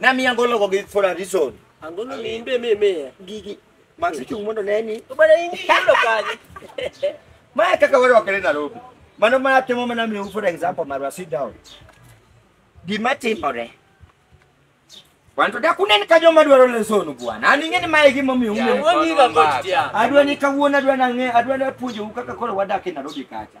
Nami angolo go gi for a reason. Angolo limbe meme. Gigi. Max chung mondo neni. To bana ingi ilo kani. Maya kaka wale wakele Nairobi. Mano maya temo mana mi for example marwa sit down. Gima timore. Wanto da kunen ka joma dwaro lesonu bwana. An ing'e ni mae gima omiyo Yeah. ume. Wongi ga kotia. Adwa ni kawuono adwa nang'e adwa ni apuonjou kaka koro wadak e Nairobi kacha.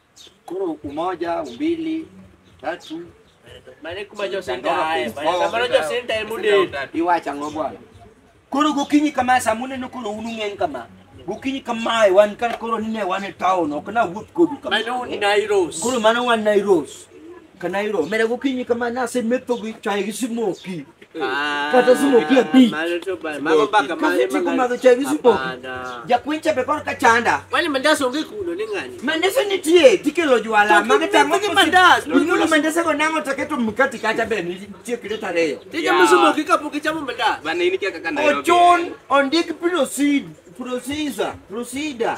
Koro umoja, umbili, tatu. Mane kuma josintae, mane kamano josintae mudel. Iwacho ang'o bwana? Koro gokinyi kama sa muneno koro un ung'eny kama. Gokinyi kamae wan ka koro nine wan e town ok na wuoth kodu kama. Mano un Nairos. Koro mano wan Nairos. kanairo mere gokinyi kama nase metho gi chai gi smoki kata smoki ya pi Mago baka mane kase chiko madho chai gi smoki Hapana. jakwencha be kor kachanda Wale mandas onge kuno ni ng'ani. mandese nitie tikelo jwala mage tango Gi mandas. inyulo mandese go nango taketo mkati kata be nitie kiret ariyo Tija musumoki kapok ichamo mandas. Bana ini kia kaka Nairobi. ochun ondik proceed procedure procedure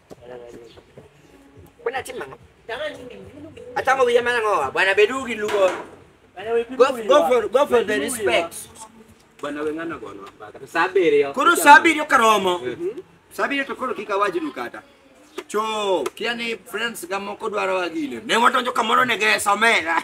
Kuna tima. Hata ngo vijana ngo bwana Bedugi lugo. Go, go for go for the respect. Bwana wengana gono hapa. Kata sabere yo. Koro sabiri okaromo. Sabiri to koro kika waji dukata. Cho, kiani friends ga moko dwaro agile. Ne watonjo kamoro ne gesa omera.